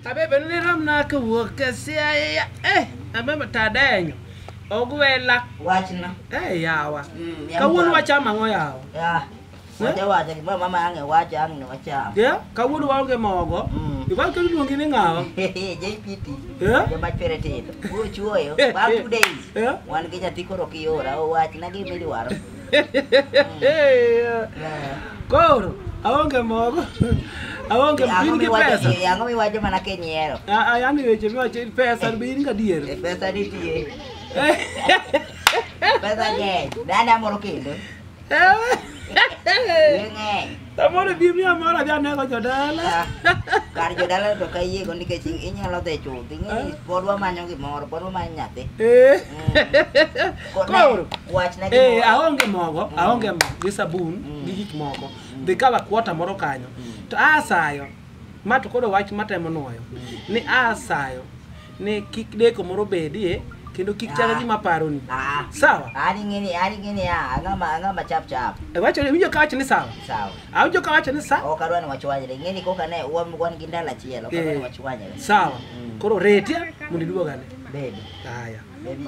abebe ni rom na ka wuok ka sia ya eh abebe ta denyo ogwela wachna eh yawa Mm, ya kawuono mchana. wachamo ang'o yawa ya wacha wacha gimoro mama ange wacha ang ne wacham ye kawuono waonge mogo Mm. iwal ka iluongi ni ng'awa jpt Eh? joma chwere tindo uchuoyo bang two days Eh? wan gi nyathi koro kiora owachna gima idwaro Koro aonge mogo. Aonge Ang'o bin gi miwacho pesa. ni- ang'o miwacho mana kinyiero Ah, ah, Yaani weche miwacho ni pesa bin gadier. E, pesa nitie pesa ng'eny dada moro kendo Eh. ng'eny Samoro bi miya moro adhi anego jodala. Ah, Kar jodala to ka yiego nikech inyalo dhi chuth. Ing'e pod wamanyo gimoro, pod wamanyo nyathi. Eh. Ko- ne- Koro. Wachna Eh, gimoro. aonge mogo, aonge mo gi sabun gi gik moko. Dhi kawa kuota moro kanyo. To asayo ma to koro wach matemo nwoyo ni asayo ni kik deko moro bedie kendo kik chaka gima paroni Ah. sawa Ani ngini, ani ngini ya, angama angama chap chap. E wacho ni winjo ka wacho ni sawa Sawa. awinjo ka wacho ni sa Ok adwa ni wachwanyre. Ngini koka ne wan wan gi ndalo achiel, ok adwa ni Eh. wachwanyre. sawa Mm. koro retia mondo iduogane Baby, haya baby.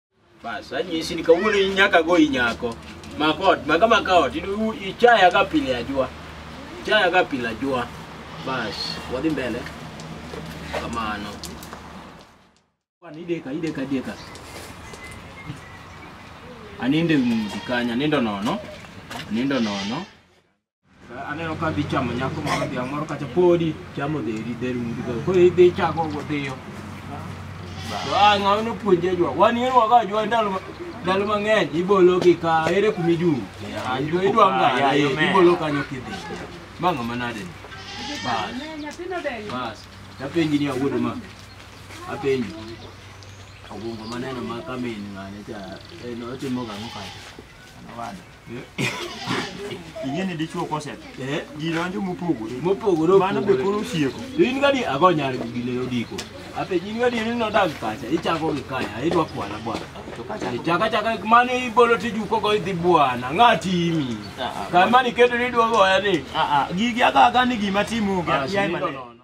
Bas, anyisi ni kawuono in nyaka go inyako. Mako ot, maka maka ot, in- u- ichaya ka pile ajua. Ichaya ka pile ajua. Bas, wadhi mbele. Kamano. Kwan ideka, ideka, ideka. Aninde mudi kanya, nindo nono. Nindo nono. aneno ka dhi chamo nyako moro dhiang' moro kacha podi chamo dheri dheri mudhigo koro idhi chako godhiyo to a ng'ama nopuonji ajwa wan yen wago ajwa ndalo ma- ndalo mang'eny ibolo gi ka ere kumi juu ajwa idwa ngaya ibolo kanyo kidhi ma ng'ama nade ni bas bas tapenji ni awuodo ma apenji ogungo maneno ma kamin ng'ane cha en otimo gang'o kacha ing'e ni dichuo koset Eh, ji donjo mopogore mopogore mano be koro opogore. osieko To in gadi ago nyar gi ne odiko. Ape in gadi ni nodag kacha, ichako gi kaya, idwa kwana bwana. to kacha Ichaka chaka mano ibolo tijuko go idhi bwana, ng'atimi. Kama ni kedo ni dwogo ya ni. gigi agaga ni gima timo Ah, yaye sinindo maneno. nono.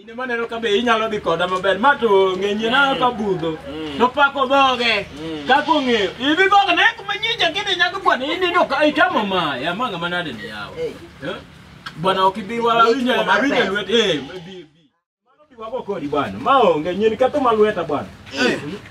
In ema neno ka be inyalo dhi koda maber ma to ng'enye na ka budho to pako dhoge kaka ong'eyo ibi dhoge ne kuma nyinja kidhi nyaka bwana in ino ka itamo ma ya manga manade ni yawo Eh. Eh? bwana ok ibi wa Ni winyo tuo mar awinyo pesa. lwet eh bi bi mano bi wago kodi bwana ma onge nyin ketho ma lweta bwana Eh.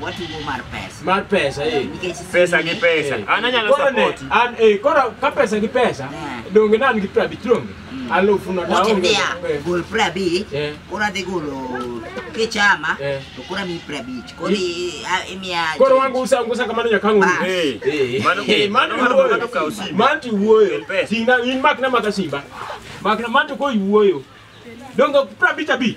watugo mar pesa. mar pesa eh. Nikech Pesa gi pesa. Eh. An anyalo Koro ne, support. an eh, koro ka pesa gi pesa Eh. donge nan gi pra abich ronge Mm. alufu no Wacha taonge mia, Eh, gol pra abich, Eh. koro adhi golo kichama, Eh. to koro amiyi pra abich. Koro i- a- imiya- koro wangu usa ngusa kamano nyaka ng'u Ba. Eh, Eh. mano Eh, man mano mano wuoyo. mano kawo simu. man to wuoyo Kel pesa. tingna in makna maka simba makna man to koiwuoyo donge pra abich abich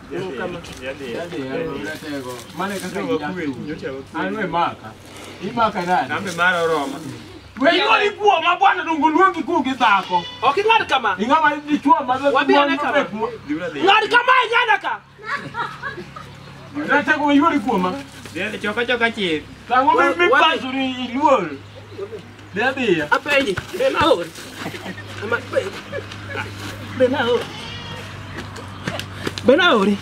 Mane kaka anwe maka imaka nani wenyuoli kuo ma bwana dongo luongi kuo gi dhako Ok ing'ad kama. ing'ama dichuo ma Wabi ane kama. Ng'ad kama e nyana ka. ratego wenyuoli kuoma Choka choka chir. tango Wa- mipasori iluor Be adhiya. Apenji, be naol? Ama be. Be naol? Be naori?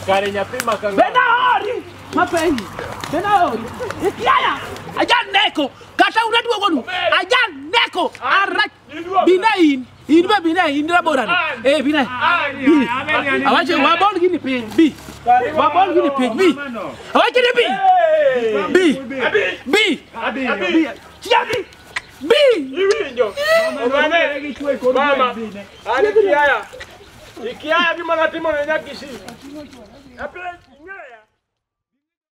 Kare nyathi ma ka Be naori? Mapenji. Be naori? Ikiaya. Ajan neko. Kata unaduogo nu. Ajan neko. Arach. Bina in, in be bina in ra bora ni. Eh bina. Bi. Awache wa bol gini piny bi. Wa bol gini piny bi. Awache ni bi. Bi. Bi. Bi. Chia bi. Bi. Iwinjo. Ogane gi chwe kod mama. Ani kiaya. Ikiaya gima natimo ne nyakisi. Apre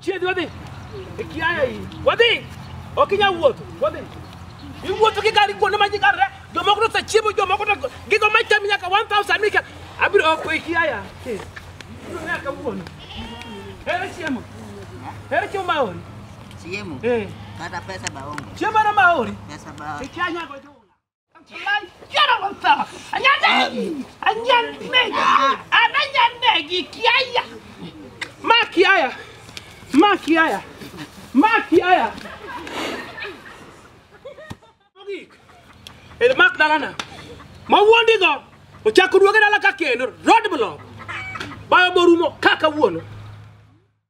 Chiedhi wadhi. Ikiaya hii. Wadhi. Ok inyal wuotho. Wadhi. Iwuotho kikali kuonde ma ji karre. Jomoko to osechiemo, jomoko to gigo ma cham nyaka 1000 mika. Abiro ok ikiaya. Abiro nea kawuono. Hero chiemo. Hero chiemo ma ori. Chiemo. Eh. Kata pesa baongo. Chiemo na ma ori. Pesa baongo. Ikiaya nyako. Makiaya. Makiaya. Makiaya. Mogik. El mak dalana. Ma wuondi go. Ochako duoge dala ka kendo. Road block. Bayo borumo kaka wuono.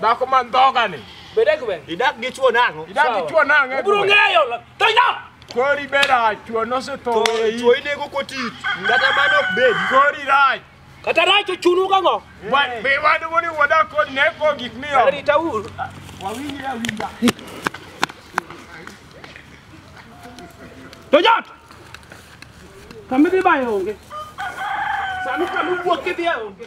Dhako man dhogani. Bede kwe. Idak gi chuo nang'o? Idak gi chuo nang'o? Ubro ng'eyo. Toina! Kori bera chuo nosetho e yi. Chuo inego koti. Kata mano ok bed. Kori rach. Kata rach ochunu kang'o? Be wadu woni wada kod ne ko gik miyo. Rita ur. Wawinjre awinja. To jot. Kamidhi bayo onge. Sami kamu buok kidhi onge.